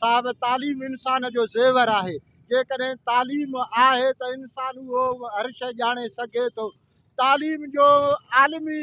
صاحب تعليم انسان جو زيور آهي جيڪڏهن تعليم آهي ته انسان اهو هر شيء ڄاڻي سگهي ٿو تعليم جو عالمي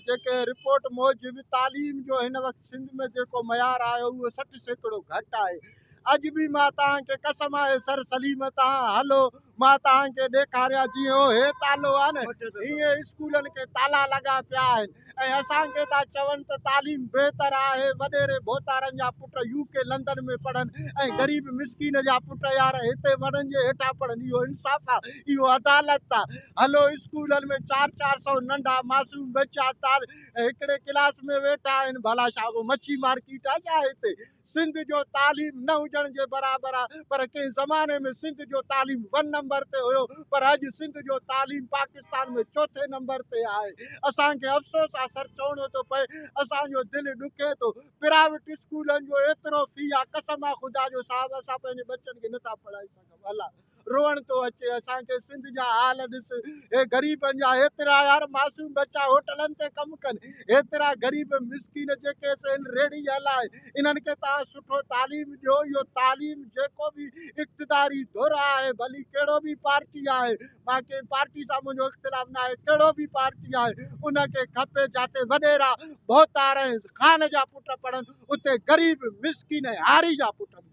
جيڪي رپورٽ موجب تعليم جو هن وقت سنڌ ۾ جيڪو معيار آهي اهو سٺ سيڪڙو گهٽ آهي اڄ به مان توهان کي قسم آهي سر سليم تان هلو مان توهان کي ڏيکاريان جيئن اهو هي تالو آهي نه هيئن اسڪولن کي تالا لڳا پيا آهن ۽ اسان کي ٿا چون ته تعليم بهتر آهي وڏيري ڀوتارن جا پٽ يو ڪي لندن ۾ پڙهن ۽ غريب مسڪين جا پٽ يار هتي وڻن جي هيٺان پڙهن اهو انصاف آ اهو عدالت آ هلو اسڪولن ۾ چار چار سئو ننڍا معصوم ٻچا تال هڪڙي ڪلاس ۾ ويٺا آهن ڀلا ڇا ڪو مڇي مارڪيٽ آ ڇا هتي سنڌ جو تعليم نه هجڻ جي برابر آ پر ڪنهن زماني ۾ سنڌ جو تعليم ون نمبر تي هيو پر اڄ سنڌ جو تعليم پاڪستان ۾ چوٿين نمبر تي آهي اسان کي افسوس آ سر چوڻو ٿو پئي اسان جو دل ڏکي ٿو پرائيوٽ اسڪولن جو ايترو في آ قسم آ خدا جو صاحب اسان پنهنجي ٻچن کي نٿا پڙهائي سگهون. الا روئڻ ٿو اچي اسان کي سنڌ جا حال ڏس اي غريبن جا ايترا يار معصوم بچا هوٽلن تي ڪم ڪن ايترا غريب مسڪين جيڪي اسين ريڙي هلا انهن کي تان سٺو تعليم ڏيو يو تعليم جيڪو به اقتداري دور آهي ڀلي ڪهڙو به پارٽي آهي مان کي پارٽي سان منهنجو اختلاف نه آهي ڪهڙو به پارٽي آهي ان کي کپي جاتي وڏيرا ڀوتار خان جا پٽ پڙهن اتي غريب مسڪين هاري جا پٽ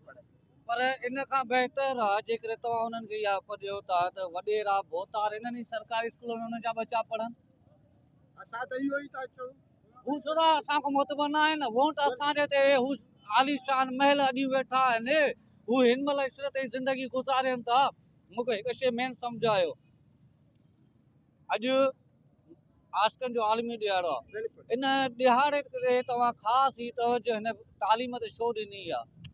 پر ان کان بهتر آهي جيڪڏهن توهان انهن کي اها اک ڏيو ٿا ته وڏيرا ڀوتار انهن ئي سرڪاري اسڪولن ۾ انهن جا ٻچا پڙهن. اسان ته اهو ئي ٿا چئون. هو سوراخ اسان کان معتبر نه آهن. وونٽ اسان جي تي هو عاليشان محل اڏيون ويٺا آهن. هو هن مهل عشرت جي زندگي گذارين ٿا. مون کي هڪ شيء مين سمجهايو. اڄ عاشقن جو عالمي ڏهاڙو آهي ان ڏهاڙي تي توهان خاص هي توجه هن تعليم تي شو ڏني آهي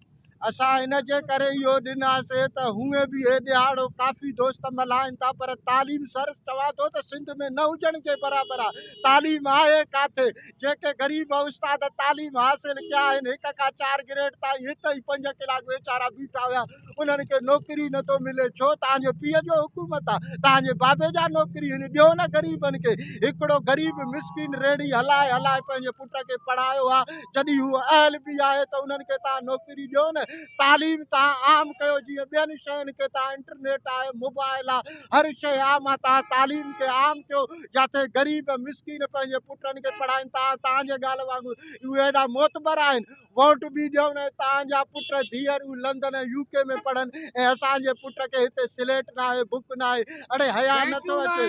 اسان ان جي ڪري اهو ڏناسي ته هونئن به هي ڏهاڙو ڪافي دوست ملهائن ٿا پر تعليم سر چوان ٿو ته سنڌ ۾ نه هجڻ جي برابر آهي تعليم آهي ڪاٿي جيڪي غريب استاد تعليم حاصل ڪيا آهن هڪ کان چار گريڊ تائين هت ئي پنج ڪلاڪ ويچارا بيٺا هيا انهن کي نوڪري نه ٿو ملي ڇو توهان جي پيء جو حڪومت آ توهان جي بابي جا نوڪري هن ڏيو نه غريبن کي هڪڙو غريب مسڪين ريڙهي هلائي هلائي پنهنجي پٽ کي پڙهايو آ جڏهن هو اهل به آهي ته انهن کي توهان نوڪري ڏيو نه تعليم توهان عام ڪيو جيئن ٻين شين کي توهان انٽرنيٽ آهي موبائل آ هر شي عام آ توهان تعليم کي عام ڪيو جاٿي غريب مسڪين پنهنجي پٽن کي پڙهائين توهان توهان جي ڳالهه وانگر اهي ايڏا معتبر آهن ووٽ به ڏيون ۽ توهان جا پٽ ڌيئرون لندن ۽ يو ڪي ۾ پڙهن ۽ اسان جي پٽ کي هتي سليٽ ناهي بڪ ناهي اڙي حيا نٿو اچي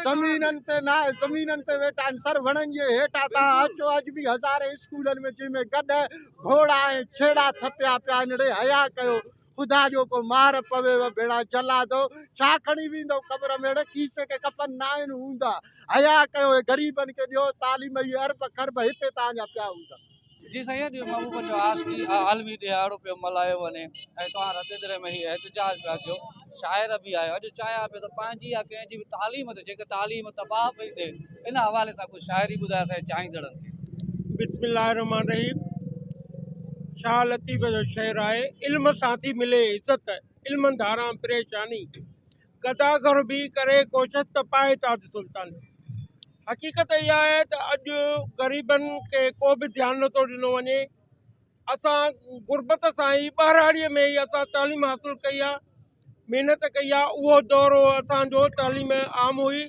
زمينن تي ناهي زمينن تي ويٺا آهن سر وڻن جي هيٺان توهان اچو اڄ به هزارين اسڪولن ۾ جنهن ۾ گڏهه گهوڙا ۽ ڇيڙا ٿڦيا پيا آهن اڙي حيا ڪيو خدا جو ڪو مار پويو ڀيڙا جلادو ڇا کڻي ويندو قبر ميڙ کيسي ڪي ڪفن ناهن هوندا حيا ڪيو هي غريبن کي ڏيو تعليم هي ارب خرب هتي تان جا پيا هوندا. جي سائين جي محبوبن جو عاشقي عالمي ڏهاڙو پيو ملهايو وڃي ۽ توهان رت دري ۾ هي احتجاج پيا ڪيو شاعر به آهيو اڄ چاهيان پيو ته پنهنجي يا ڪنهن جي به تعليم تي جيڪا تعليم تباهه پئي ٿئي ان حوالي سان ڪجهه شاعري ٻڌائي اسان جي چاهيندڙن کي. بسم الله الرحمٰن الرحيم شاهه لطيف جو شعر آهي علم سان ٿي ملي عزت علم ڌاران پريشاني گدا گهر بيهي ڪري ڪوشش ته پائي تاج سلطاني حقيقت اها آهي ته اڄ غريبن کي ڪو به ڌيان نٿو ڏنو وڃي اسان غربت سان ئي ٻهراڙيء ۾ ئي اسان تعليم حاصل ڪئي آهي محنت ڪئي آهي اهو دور هو اسان جو تعليم عام هئي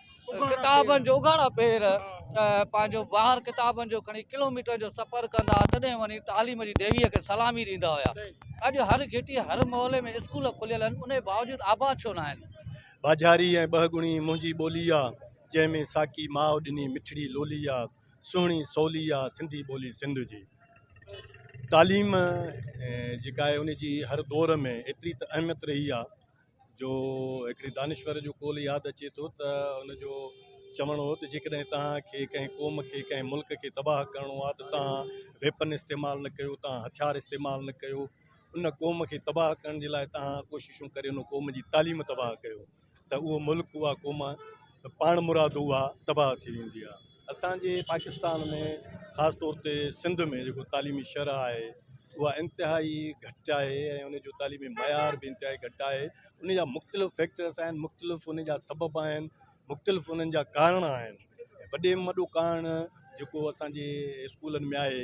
ڪتابن جو اگهاڙا پير پنهنجو بار ڪتابن جو کڻي ڪلوميٽرن جو سفر ڪندا هئا تڏهن وڃي تعليم جي ديويء کي سلامي ڏيندا هيا اڄ هر گهٽيء هر محلي ۾ اسڪول کليل آهن انهي باوجود آباد ڇو نه آهن؟ ٻاجهاري ۽ ٻه ڳڻي منهنجي ٻولي آ، جنهن ۾ ساقي ماء ڏني مٺڙي لولي آ، سهڻي سولي آ سنڌي ٻولي سنڌ جي. تعليم جيڪا آهي ان جي هر دور ۾ ايتري ته اهميت رهي آ جو هڪڙي دانشور جو قول ياد اچي ٿو ته ان جو چوڻ هو ته جيڪڏهن توهان کي ڪنهن قوم کي ڪنهن ملڪ کي تباهه ڪرڻو آهي ته توهان ويپن استعمال نه ڪيو توهان هٿيار استعمال نه ڪيو ان قوم کي تباهه ڪرڻ جي لاء توهان ڪوششون ڪري ان قوم جي تعليم تباهه ڪيو ته اهو ملڪ اها قوم پاڻ مراد اها تباهه ٿي ويندي آهي اسان جي پاڪستان ۾ خاص طور تي سنڌ ۾ جيڪو تعليمي شرح آهي اها انتهائي گهٽ آهي ۽ ان جو تعليمي معيار به انتهائي گهٽ آهي ان جا مختلف فيڪٽرس آهن مختلف ان جا سبب آهن مختلف انهن جا ڪارڻ آهن وڏي ۾ وڏو ڪارڻ جيڪو اسانجي اسڪولن ۾ آهي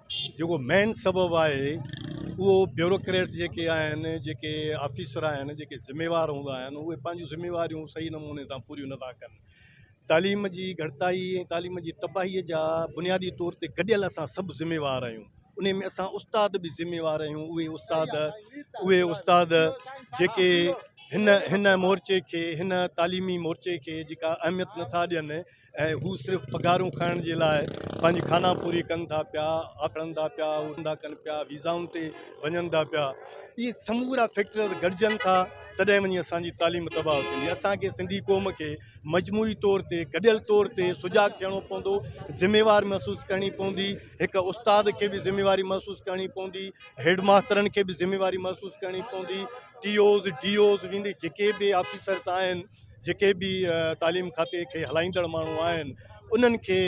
جيڪو مين سبب آهي اهو بيوروڪريٽس جيڪي آهن جيڪي آفيسر آهن جيڪي ذميوار هوندا آهن اهي پنهنجون ذميواريون صحيح نموني سان پوريون نٿا ڪن تعليم جي گهٽتائي ۽ تعليم جي تباهي جا بنيادي طور تي گڏيل اسان سڀ ذميوار آهيون ان ۾ اسان استاد به ذميوار آهيون اهي استاد اهي استاد جيڪي هن هن مورچي کي هن تعليمي مورچي کي جيڪا اهميت نٿا ڏين ۽ هو صرف پگهارون کائڻ جي لاء پنهنجي خانان پوري ڪن ٿا پيا، آٿڙن ٿا پيا، اڙن ٿا ڪن پيا، ويزائن تي وڃن ٿا پيا. اهي سمورا فيڪٽر گڏجن ٿا تڏهن وڃي اسان جي تعليم تباهه ٿيندي. اسان کي سنڌي قوم کي مجموعي طور تي گڏيل طور تي سجاڳ ٿيڻو پوندو، ذميوار محسوس ڪرڻي پوندي، هڪ استاد کي به ذميواري محسوس ڪرڻي پوندي، هيڊ ماسترن کي به ذميواري محسوس ڪرڻي پوندي، ٽي اوز، ڊي اوز ويندي جيڪي به آفيسرز آهن، جيڪي به تعليم کاتي کي هلائيندڙ ماڻهو آهن انهن کي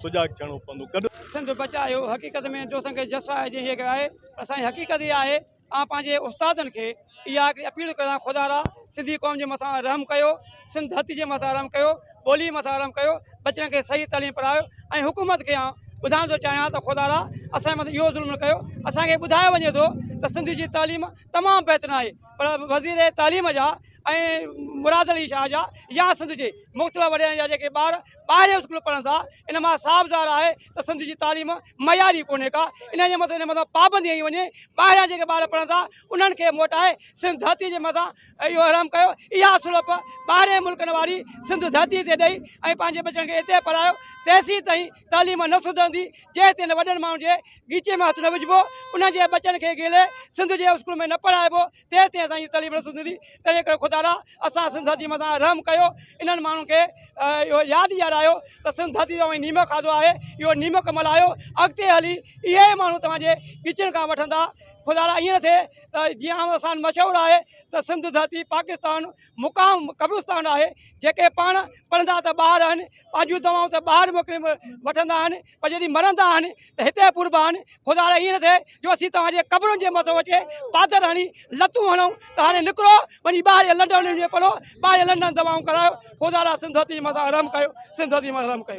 سجاڳ ٿيڻو پوندو گڏ سنڌ بچايو حقيقت ۾ جو اسان کي جس آهي جنهن کي آهي پر اسان جي حقيقت اها آهي آء پنهنجي استادن کي اها هڪڙي اپيل ڪريان خدا را سنڌي قوم جي مٿان رحم ڪيو سنڌ ڌرتي جي مٿان رحم ڪيو ٻولي مٿان رحم ڪيو ٻچڙن کي صحيح تعليم پڙهايو ۽ حڪومت کي آن ٻڌائڻ ٿو چاهيان ته خدا را اسان جي مٿان اهو ظلم نه ڪيو اسان کي ٻڌايو وڃي ٿو ته سنڌ جي تعليم تمام بهترين آهي پر وزير تعليم جا ۽ مراد علي شاهه جا يا سنڌ جي مختلف وڏيرن جا جيڪي ٻار ٻاهرين اسڪول پڙهن ٿا ان مان صاف ظاهر آهي ته سنڌ جي تعليم معياري ڪونهي ڪا ان جي مٿان ان مٿان پابندي هنئي وڃي ٻاهريان جيڪي ٻار پڙهن ٿا انهن کي موٽائي سنڌ ڌرتي جي مٿان اهو حرام ڪيو اها سلپ ٻاهرين ملڪن واري سنڌ ڌرتي تي ڏئي ۽ پنهنجي ٻچن کي اتي پڙهايو تيسين تائين تعليم نه سڌرندي جيسين تائين وڏن ماڻهن جي ڳيچي ۾ هٿ نه وجهبو انهن جي ٻچن کي گيلي سنڌ جي اسڪول ۾ نه پڙهائبو تيسين اسان جي تعليم نه سڌرندي تنهنجي ڪري خدا لاء اسان سنڌ ڌرتي مٿان رحم ڪيو انهن ماڻهن کي اهو ياد ڏيارايو ته سنڌ ڌرتي تون اوهين نيمڪ کاڌو آهي اهو نيمڪ ملهايو اڳتي هلي اهي ئي ماڻهو توهان جي ڳچن کان وٺندا خدا لاء ائين نه ٿئي ته جيئن عام اسان مشهور آهي ته سنڌ ڌرتي پاڪستان مقام قبرستان آهي جيڪي پاڻ پڙهندا ته ٻاهر آهن پنهنجون دوائون ته ٻاهر موڪلي وٺندا آهن پر جڏهن مرندا آهن ته هتي پوربا آهن، خداڙي ائين نه ٿئي جو اسين توهان جي قبرن جي مٿو اچي پادر هڻي لتون هڻون ته هاڻي نڪرو وڃي ٻاهرين لنڊن ۾ پڙهو، ٻاهرين لنڊن دوائون ڪرايو، خداڙا سنڌوتي جي مٿان رحم ڪيو، سنڌوتي جي مٿان رحم ڪيو.